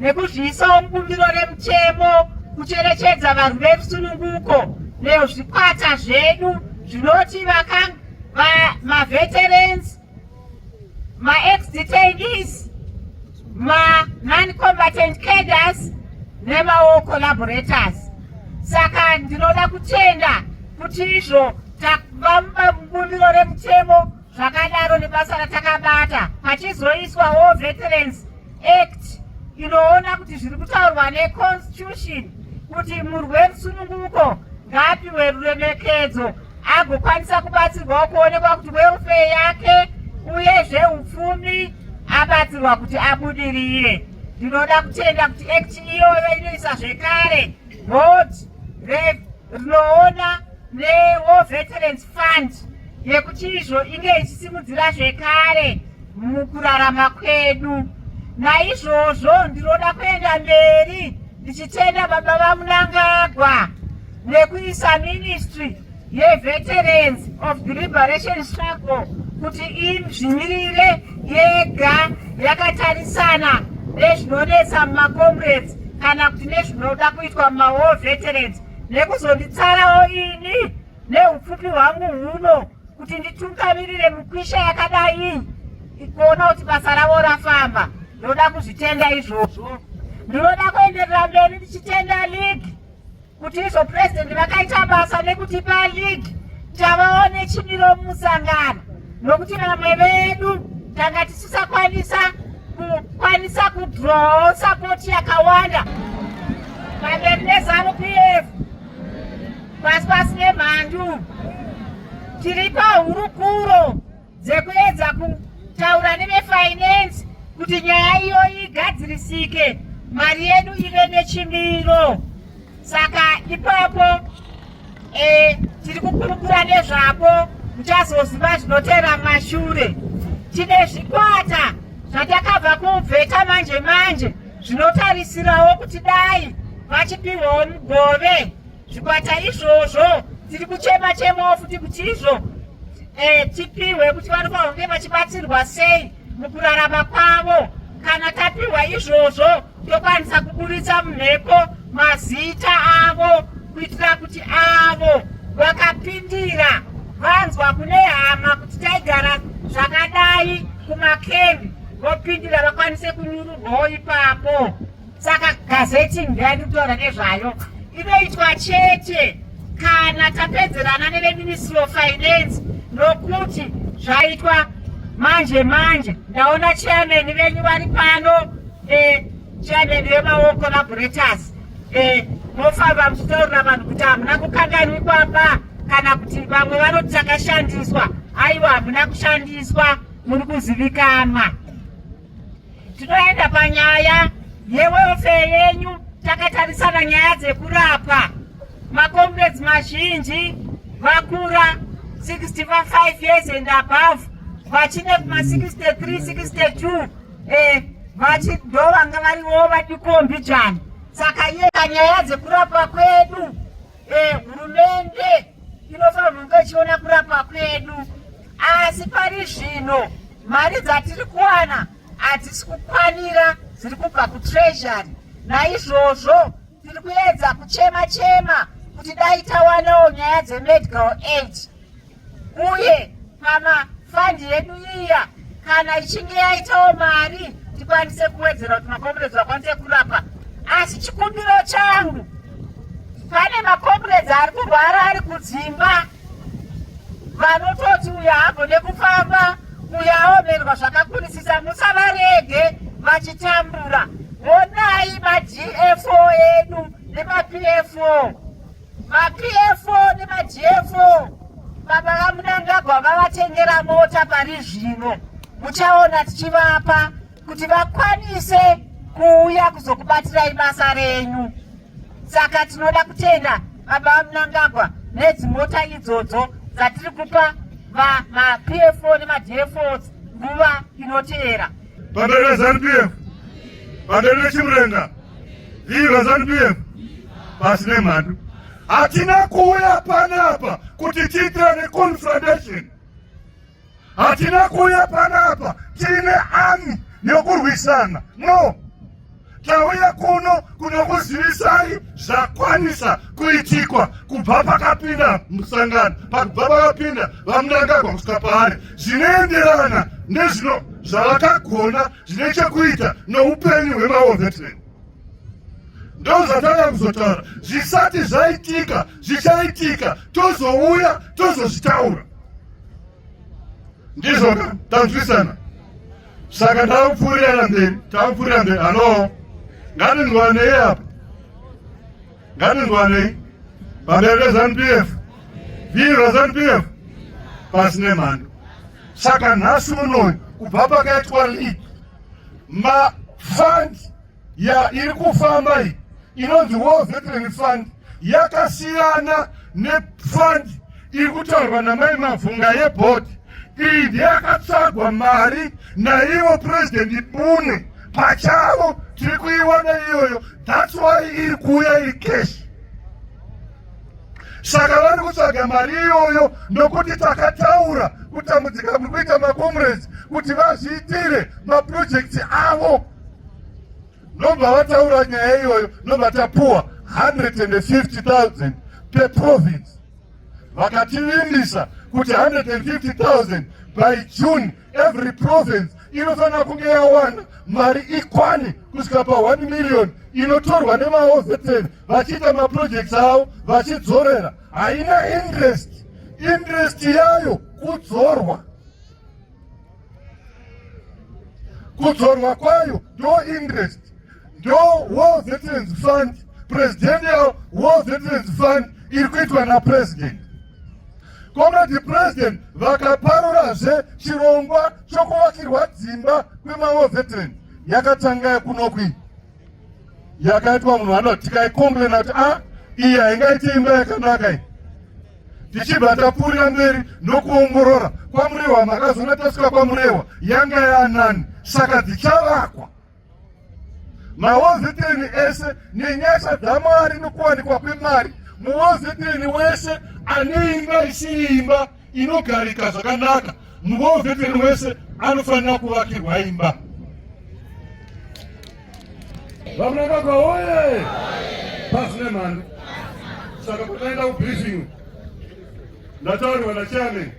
nekuzviisawo mubumbiro remutemo kucherechedza vanhu verusununguko nezvikwata zvedu zvinoti maveterans maexdetanees manon-combatant caders nemawo collaborators saka ndinoda kutenda kuti izvo takuvamba mubumbiro remutemo zvakadaro nebasa ratakabata pachizoiswawo veterans act inoona kuti zviri kutaurwa neconstitution kuti murweri sununguko ngaapiwe ruremekedzo agokwanisa kubatsirwawo kuonekwa kuti welfare yake uye zveupfumi abatsirwa kuti abudirire ndinoda kutenda kuti act iyoyo inoisa zvekare Board Rev rinoona neWar Veterans Fund yekuti izvo inge ichisimudzira zvekare mukurarama kwedu. Naizvozvo ndinoda kuenda mberi ndichitenda baba vaMunangagwa nekuisa ministry yeVeterans of the Liberation Struggle kuti izvimirire yega yakatarisana nezvinonetsa mumakomrades kana kuti nezvinoda kuitwa mumawar veterans nekuzonditsarawo ini neupfupi hwangu huno kuti nditungamirire mukwisha yakadai kuona kuti basa ravo rafamba ndoda kuzvitenda izvozvo ndinoda kuenderera mberi ndichitenda league kuti izvo purezidenti vakaita basa nekutipa league tavaone chimiro musangano nokuti vamwe vedu tanga tisisakwanisa kukwanisa kudrowawo sapoti yakawanda pamberi nezanu p f pasi pasi nemhandu tiri pahurukuro dzekuedza kutaura nevefinance kuti nyaya iyoyi igadzirisike mari yedu ive nechimiro saka ipapo e, tiri kukurukura nezvapo muchazoziva zvinotera mashure tine zvikwata zvatakabva kubveta manje manje zvinotarisirawo kuti dai vachipiwawo mugove Zvikwata izvozvo tiri kuchema chemawo futi kuti izvo eh, tipihwe kuti vanofanira kunge vachibatsirwa sei mukurarama kwavo. Kana tapihwa izvozvo tokwanisa kuburitsa mumhepo mazita avo kuitira kuti avo vakapindira vanzwa kune hama kuti taigara zvakadai kumakembi vopindira vakwanise kunyururwawo ipapo saka gazeti ndiyani kutaura nezvayo inoitwa chete kana tapedzerana neveministry of finance nokuti zvaitwa manje manje ndaona chairman venyu vari pano eh, chairman vemaoko laborators eh, mofamba muchitaurira vanhu kuti hamuna kukanganwi kwapa kana kuti vamwe vanoti takashandiswa aiwa hamuna kushandiswa muri kuzivikanwa Tinoenda panyaya yewelfare yenyu takatarisana nyaya dzekurapa makomrades mazhinji vakura 65 years and above vachine kuma 63 62 eh, vachido vanga variwo vadikombijani saka iye kanyaya dzekurapa kwedu eh, hurumende inofanirwa kunge ichiona kurapa kwedu asi pari zvino Mari dzatiri kuwana hadzisi kukwanira dziri kubva kutreasury, naizvozvo tiri kuedza kuchema chema kuti dai tawanawo nyaya dzemedical aid uye pama fund yedu iya kana ichinge yaitawo mari tikwanise kuwedzera kuti makomburedzi vakwanise kurapa asi chikumbiro changu pane makomburedzi ari kurwara ari kudzimba vanototi uyo haagone kufamba uyo aomerwa zvakakurisisa musavarege vachitambura honai magfo edu nemapfo mapfo nemagfo baba vamunangagwa vavatengera mota pari zvino muchaona tichivapa kuti vakwanise kuuya kuzokubatirai basa renyu saka tinoda kutenda baba vamunangagwa nedzimota idzodzo dzatiri kupa mapfo nemadfos nguva inoteera pamberi vezanu pf pamberi vechimurenga viva zanu pf pasi nemhandu hatina kuuya panapa kuti tiitirane confrontation Hatina kuuya panapa tiine ani yokurwisana, no. Tauya kuno kunokuzivisai zvakwanisa kuitikwa kubva pakapinda musangano, pakubva pakapinda vaMnangagwa kusvika paari, zvinoenderana nezvino zvavakagona zvine chekuita noupenyu hwemaovetmen ndozvatanga kuzotaura zvisati zvaitika zvichaitika tozouya tozozvitaura ndizvo tanzwisana saka takupfuurirana mberi takupfuurira mberi halo ngatinzwanei apa ngatinzwanei pamberi pezanup f viva zanup f pasi nemhando saka nhasi unoyu kubva pakaitwa league mafund ya iri kufamba iyi inonzi war veteran fund yakasiyana nefund iri kutaurwa namai mavhunga yebhodhi iyi ndeyakatsvagwa mari naivo purezidenti bune pachavo tiri kuiwana iyoyo thats why iri kuuya iri keshi saka vari kutsvaga mari iyoyo nokuti takataura kutambudzika kuri kuita makomuresi kuti vazviitire mapurojekti avo Ndobva vataura nyaya iyoyo, ndobva tapuwa 150,000 per province. Vakativimbisa kuti 150,000 by June every province inofanira kunge yawana mari ikwani kusvika pa 1 million inotorwa nemaoveteni vachiita maprojects avo vachidzorera haina interest interest yayo kudzorwa kudzorwa kwayo ndo interest ndo war veterans fund presidential war veterans fund iri kuitwa napresident komredi president vakaparurazve chirongwa chokuvakirwa dzimba kwemawar veteran yakatanga kunokwii yakaitwa munhu ano tikaikomplena kuti a ah, iyi haingaiti imba yakanaka iyi tichibva tapfuurira mberi nokuongorora kwamurewa makazoona tasvika kwamurewa yanga yaanani saka dzichavakwa maozeteni ese nenyasha dzamwari nokuwanikwa kwemari muozeteni wese ane imba isiimba inogarika zvakanaka muvo veterani wese anofanira kuvakirwa imba vamunangagwa woye pasi nemhando saka pataenda kubriefing ndatauriwa nachairman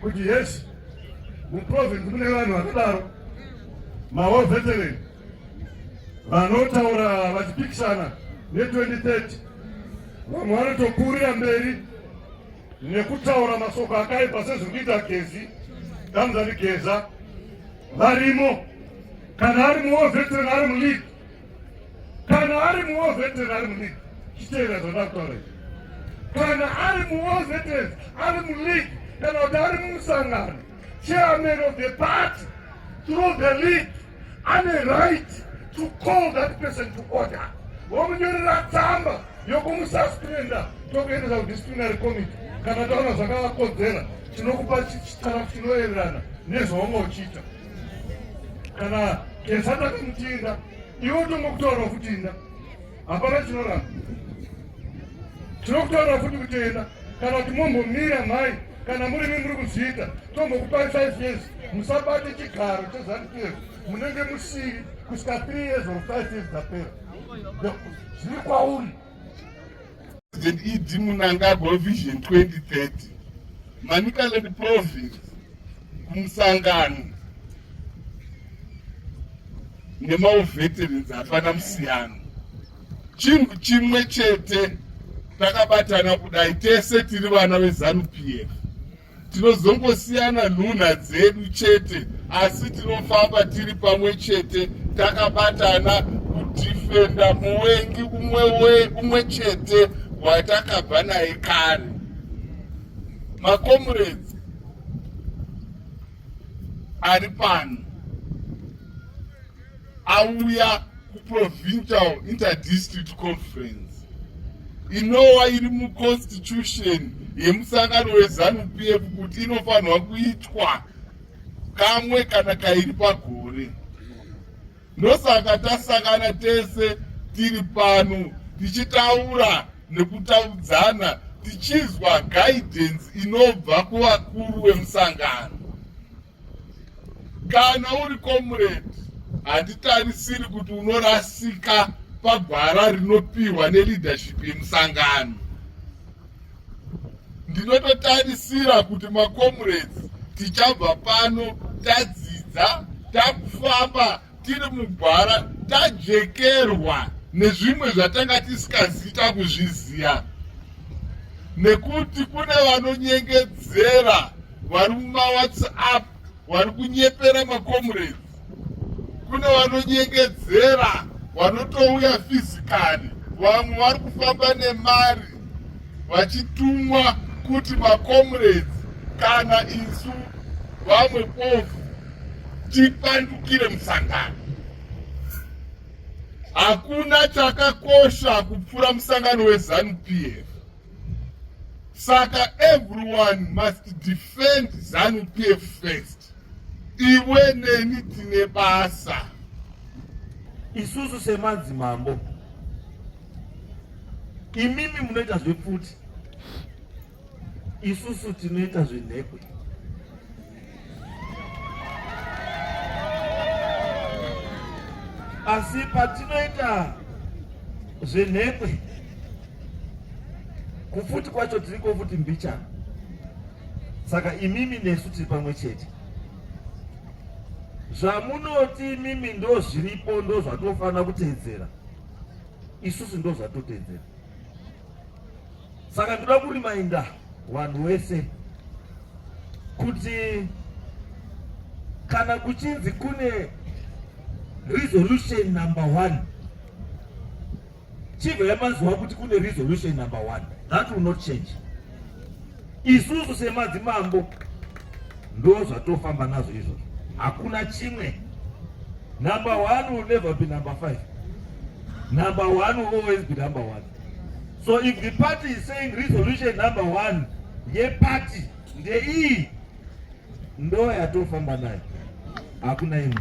kuti yes muprovince mune vanhu vakadaro mawo veteran vanotaura vachipikisana ne2030 vamwe vanotokurira mberi nekutaura masoko akaipa sezviri kuita gezi damzani geza varimo kana ari muwo veteran ari muleague kana ari muwo veteran ari muleague chiteera zvandaa kutaura izvi kana ari muwo veteran ari muleague kana kuti ari mumusangano Chairman of the party through the league ane right to call that person to order vomunyorera tsamba yokumususpenda tokuendesa kudisciplinary committee kana taona zvakavakodzera tinokupa chitara chinoererana nezvaunga uchiita kana kesata kumutinda iwo tongokutoora kuti inda hapana chinoramba tinokutaura futi kutenda kana kuti mombomira mhai kana muri mi muri kuzviita tombokupai five years musabate chigaro chezanu pf munenge musiri kusvika three years or five years dzapera zviri kwauri zed munangagwa vision 2030 manicaland province kumusangano nemaoveterans hapana musiyano chinhu chimwe chete takabatana kudai tese tiri vana vezanup f tinozongosiyana nhunha dzedu chete asi tinofamba tiri pamwe chete takabatana kudhifenda muvengi umwe chete watakabva naye kare makomureds ari pano auya kuprovincial interdistrict conference inowa iri muconstitution yemusangano wezanu p f kuti inofanirwa kuitwa kamwe kana kairi pagore ndosaka tasangana tese tiri pano tichitaura nekutaudzana tichinzwa guidance inobva kuvakuru vemusangano kana uri comrade handitarisiri kuti unorasika pagwara rinopiwa neleadership yemusangano ndinototarisira kuti macomrades tichabva pano tadzidza takufamba tiri mugwara tajekerwa nezvimwe zvatanga tisikazita kuzviziva nekuti kune vanonyengedzera vari mumawhatsapp vari kunyepera macomrades kune vanonyengedzera vanotouya fizikali vamwe vari kufamba nemari vachitumwa kuti macomrades kana isu vamwe pofu tipandukire musangano hakuna chakakosha kupfuura musangano wezanupf saka everyone must defend zanupf first iwe neni tine basa isusu semadzimambo Imimi munoita zvepfuti, isusu tinoita zvenhekwe. Asi patinoita zvenhekwe, kupfuti kwacho tiri kofuti mbichana. Saka imimi nesu tiri pamwe chete. Zvamunoti imimi ndozviripo ndozvatinofanira kuteedzera. isusu ndo zvatotedzera saka ndoda kurimainda vanhu wese kuti kana kuchinzi kune resolution number one chive yamaziwa kuti kune resolution number one that will not change Isusu semadzimambo ndo zvatofamba nazvo izvo, hakuna chimwe. Number one will never be number five. Number one will always be number one. So if the party is saying resolution number one yeparty ndeiyi ndo yatofamba nayo, hakuna imwe.